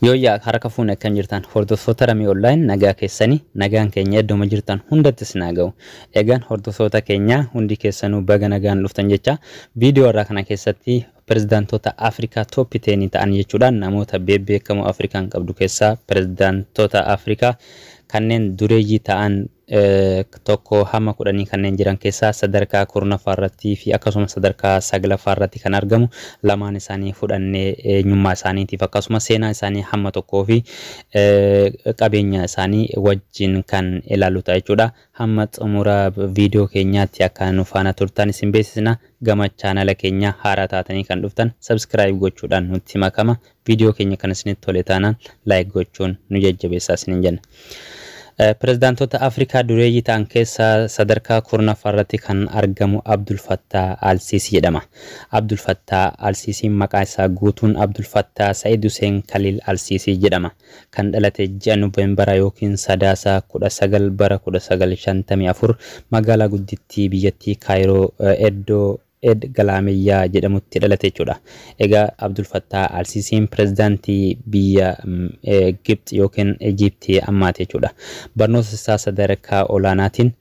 Yooyyaa harka fuune akkam jirtan hordoftoota Ramii Online nagaa keessanii nagaan keenya iddoma jirtan hundatti isin haa ga'u. Egaan hordoftoota keenya hundi keessanuu baga nagaan dhuftan jecha viidiyoo irraa kana keessatti pirezidaantoota Afrikaa tooppi teenii ta'an jechuudha namoota beebbeekamoo Afrikaan qabdu keessaa pirezidaantoota Afrikaa kanneen dureeyyii ta'an 1-10 kanneen jiran keessaa sadarkaa 10ffaa irratti fi akkasumas sadarkaa 9ffaa irratti kan argamu lamaan isaanii fudhannee eenyummaa isaaniitiif akkasumas seenaa isaanii hamma tokkoo fi qabeenya isaanii wajjin kan ilaallu ta'a jechuudha. Hamma xumura viidiyoo keenyaatti akka nu faana turtan isin beeksisna. Gama chaanala keenya haaraa taatanii kan dhuftan subscribe gochuudhaan nutti makama. Video keenya kan isinitti tole taanaan like gochuun nu jajjabeessaa isiniin jenna. Pirezidaantoota Afrikaa dureeyyii ta'an keessaa sadarkaa kurnaffaa irratti kan argamu Abdul Fattaa Al-Siisii jedhama. Abdul Fattaa Al-Siisiin maqaa isaa guutuun Abdul Fattaa Sa'id Huseen Kaliil Al-Siisii jedhama. Kan dhalate ji'a Noveembaraa yookiin Sadaasa 19 bara 1954 magaalaa guddittii biyyattii Kaayiroo eddoo Ed Galaameyyaa jedhamutti dhalate jechuudha. Egaa Abdul Fattaah Al-Siisiin pirezidaantii biyya Gibxi yookiin Ijiipti ammaati jechuudha. Barnoota isaa sadarkaa olaanaatiin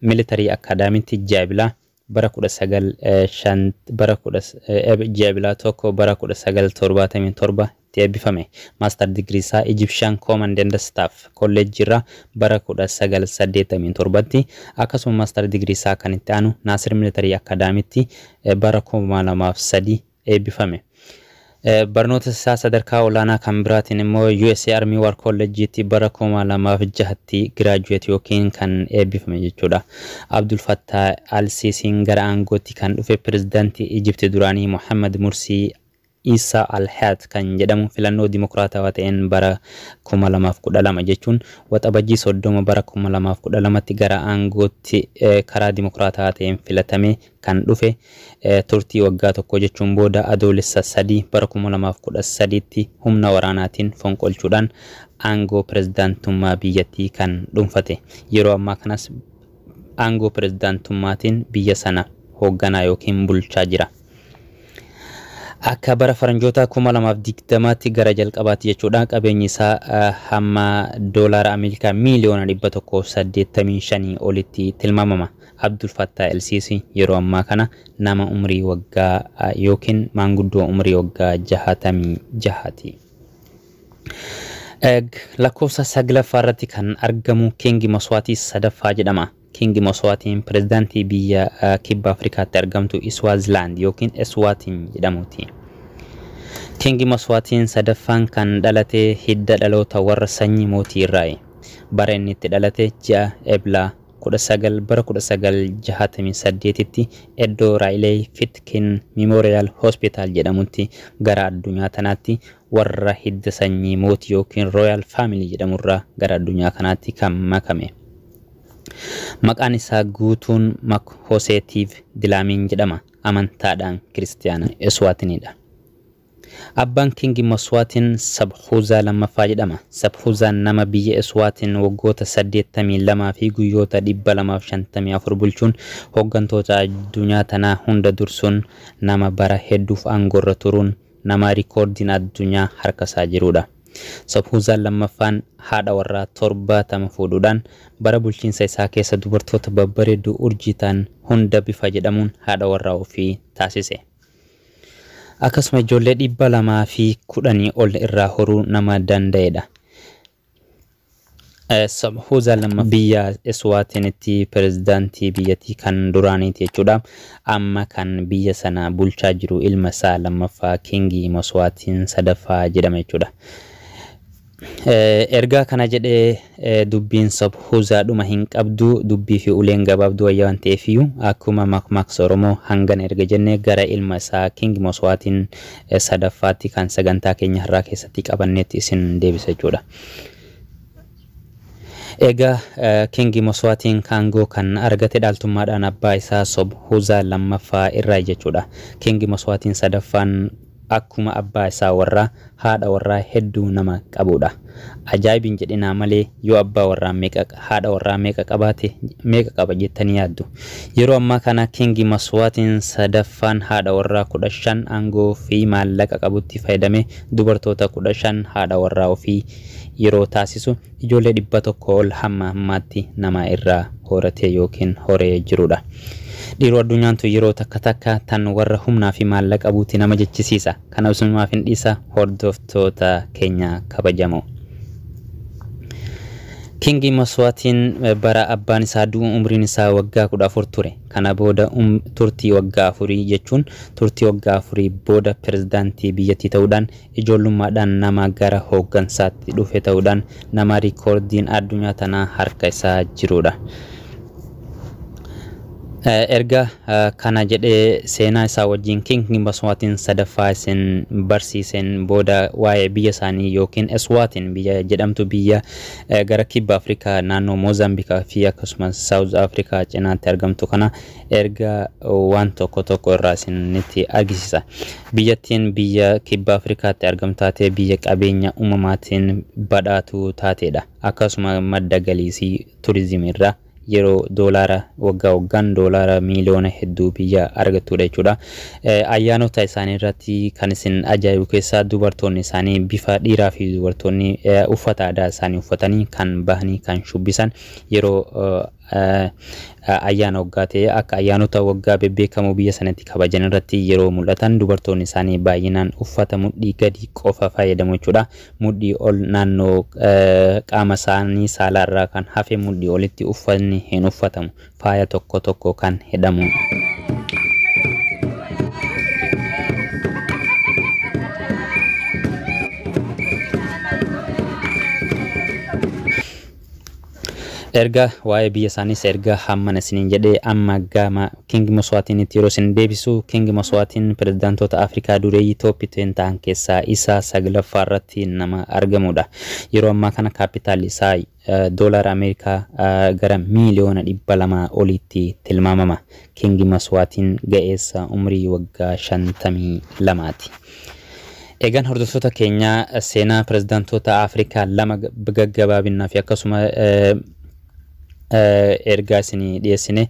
Military Acadamy'tti ji'a Ebilaa bara 19 bara 10 Eb ji'a Ebilaa 1 bara 1977 tti eebbifame. Master Degree isaa Egyptian Command and Staff College irraa bara 1987 tti, akkasuma Master Degree isaa kan itti aanu Nasir Military Academy tti bara 2003 eebbifame. Barnoota isaa sadarkaa olaanaa kan biraatiin immoo usa Army War College tti bara 2006 tti graduate ykn kan eebbifame jechuudha. Abdul Fattah Al-Sisiin gara aangootti kan dhufe Pirezidaantii Egypt duraanii Mohammed Mursi Issa Al-Hayat kan jedhamu filannoo dimokiraatawaa ta'een bara 2012 jechuun Waxabajjii 30 bara 2012tti gara aangootti karaa dimokiraatawaa ta'een filatamee kan dhufe turtii waggaa tokkoo jechuun booda Adoolessa 3 bara 2013tti humna waraanaatiin fonqolchuudhaan aangoo pirezidaantummaa biyyattii kan dhuunfate. Yeroo ammaa kanas aangoo pirezidaantummaatiin biyya sana hoogganaa ykn bulchaa jira. Akka bara faranjootaa 2020tti gara jalqabaatti jechuudha qabeenyi isaa hamma doolaara Ameerikaa miiliyoona 185 olitti tilmaamama. Abdul Fattaa El Sisi yeroo ammaa kana nama umrii waggaa yookiin maanguddoo umrii waggaa 66 ti. Lakkoofsa saglaffaa irratti kan argamu Kingi Maswaatii sadaffaa jedhama. Kiingi Moswaatiin pirezidaantii biyya Kibba Afrikaatti argamtu Iswaazilaand yookiin Eswaatiin jedhamuuti. Kiingi Moswaatiin sadaffaan kan dhalate hidda dhaloota warra sanyii mootii irraayi. Bara inni itti dhalate ji'a Ebla 19 bara 1968tti eddoo Raileey Fitkin Mimoriyaal Hospitaal jedhamutti gara addunyaa tanaatti warra hidda sanyii mootii yookiin Royal Family jedhamurraa gara addunyaa kanaatti kan makame. Maqaan isaa guutuun Mak Hosee Tiiv Dilaamiin jedhama. Amantaadhaan Kiristiyaana Eswaatinii dha. Abbaan Kingi Maswaatiin Sabhuuzaa lammaffaa jedhama. Sabhuuzaan nama biyya Eswaatiin waggoota 82 fi guyyoota 254 bulchuun hoggantoota addunyaa tanaa hunda dursuun nama bara hedduuf aangoorra turuun Nama rikoordiin addunyaa harkasaa jiruudha. Sobhuuzaan lammaffaan haadha warraa 70 fuudhuudhaan bara bulchiinsa isaa keessa dubartoota babbareedduu urjii ta'an hunda bifa jedhamuun haadha warraa ofii taasise. Akkasuma ijoollee 210 ol irraa horuu nama danda'eedha. Sabhuza lamma biyya Eswaatinitti pirezidaantii biyyattii kan duraaniiti jechuudha. Amma kan biyya sana bulchaa jiru ilma isaa lammaffaa Kingi Moswaatiin sadaffaa jedhama jechuudha. Ergaa kana jedhee dubbiin Sabhuza dhuma hin qabdu dubbii fi uleen gabaabduu wayya waan ta'eefiyyu akkuma makmaaksa Oromoo hangana erga jenne gara ilma isaa Kingi Moswaatiin sadaffaatti kan sagantaa keenya har'aa keessatti qabanneetti isin deebisa jechuudha. Egaa Kingi Moswaatiin kaangoo kan argate dhaaltummaadhaan abbaa isaa Sob Huzaa lammaffaa irraa jechuudha. Kingi Moswaatiin sadaffaan akkuma abbaa isaa warraa haadha warraa hedduu nama qabuudha. Ajaa'ib hin jedhinaa malee yoo abbaa warraa meeqa haadha warraa meeqa qabaate meeqa qaba jettanii yaaddu? Yeroo ammaa kana King Maswaatiin sadaffaan haadha warraa 15 aangoo fi maallaqa qabutti fayyadamee dubartoota 15 haadha warraa ofii yeroo taasisu ijoollee 100 ol hamma ammaatti namaa irraa horatee ykn horee jirudha. Dhiiroo addunyaan tun yeroo takka takka tan warra humnaa fi maallaqa buuti nama jechisiisa. Kana isumaaf hin dhiisa hordoftoota keenya kabajamoo. King Maswaatiin bara abbaan isaa du'u umriin isaa waggaa 14 ture. Kana booda turtii waggaa afurii jechuun turtii waggaa afurii booda pirezidaantii biyyattii ta'uudhaan ijoollummaadhaan nama gara hooggansaatti dhufe ta'uudhaan nama riikoordiin addunyaa tanaa harka isaa jiruudha. Erga kana jedhee seenaa isaa wajjin King Maswaatiin sadaffaa isin barsiiseen booda waa'ee biyya isaanii yookiin Eswaatiin biyya jedhamtu biyya eh, gara kibba Afrikaa naannoo Moozaambikaa fi akkasumas Saawuz Afrikaa cinaatti argamtu kana erga waan tokko tokko irraa isinitti argisiisa. Biyyattiin biyya kibba Afrikaatti argamtu taatee biyya qabeenya uumamaatiin badhaatuu taateedha. Akkasuma madda galiisii turizimii irraa. yeroo doolaara waggaa waggaan doolaara miiliyoona hedduu biyya argattuudha jechuudha. Ayyaanota isaanii irratti kan isin ajaa'ibu keessaa dubartoonni isaanii bifa dhiiraa fi dubartoonni uffata aadaa isaanii uffatanii kan bahanii kan shubbisan yeroo ayyaana waggaa ta'e akka ayyaanota waggaa bebbeekamoo biyya sanatti kabajan irratti yeroo mul'atan dubartoonni isaanii baay'inaan uffata mudhii gadi qofa fayyadamu jechuudha. Mudhii ol naannoo qaama isaanii saalaa irraa kan hafe mudhii olitti uffatni hin uffatamu. Faaya tokko tokko kan hidhamu. Erga waa'ee biyya isaaniis erga hammana isiniin jedhee amma gama King Moswaatinitti yeroo isin deebisu, King Moswaatiin pirezidaantoota Afrikaa dureeyyii Top ten ta'an keessaa isa saglaffaa irratti nama argamuudha. Yeroo ammaa kana kaappitaalli isaa Doolaara Ameerikaa gara miiliyoona 200 oliitti tilmaamama. King Moswaatiin ga'eessa umrii waggaa 52ti. Egaan hordoftoota keenya seenaa pirezidaantoota Afrikaa lama gaggabaabinnaa fi akkasuma ergaa isinii dhiyeessine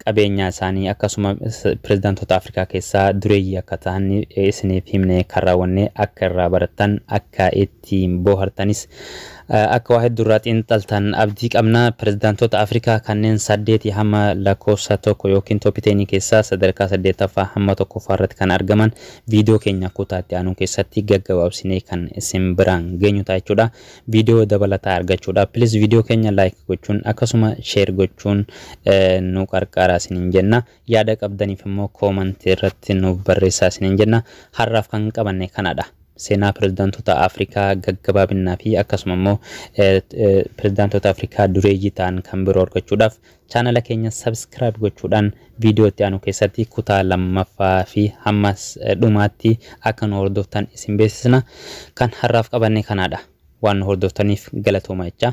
qabeenyaa isaanii akkasuma pirezidaantoota Afrikaa keessaa dureeyyii akka ta'an isiniif himne kan raawwanne akka irraa barattan akka itti ittiin boohartanis akka waa heddu irraa xiinxaltan abdii qabna. Pirezidaantoota Afrikaa kanneen saddeetii hamma lakkoofsa tokko ykn Top Ten keessaa sadarkaa saddeettaffaa hamma tokkoffaa irratti kan argaman viidiyoo keenya kutaa itti aanu keessatti gaggabaabsinee kan isin biraan geenyu ta'a jechuudha. Viidiyoo dabalataa argachuudhaaf please viidiyoo keenya like gochuun akkasuma share gochuun nu qarqaaraa isiniin jenna. Yaada qabdaniif immoo comment irratti nuuf barreessaa isiniin jenna. Har'aaf kan qabanne kanadha. Seenaa pirezidaantota Afrikaa gaggabaabinnaa fi akkasuma immoo pirezidaantota Afrikaa dureeyyii ta'an kan biroo argachuudhaaf chaanala keenya subscribe gochuudhaan viidiyoo itti aanu keessatti kutaa lammaffaa fi hamma dhumaatti akka nu hordoftan isin beeksisna. Kan har'aaf qabanne kanadha. Waan nu hordoftaniif galatoomaa jechaa.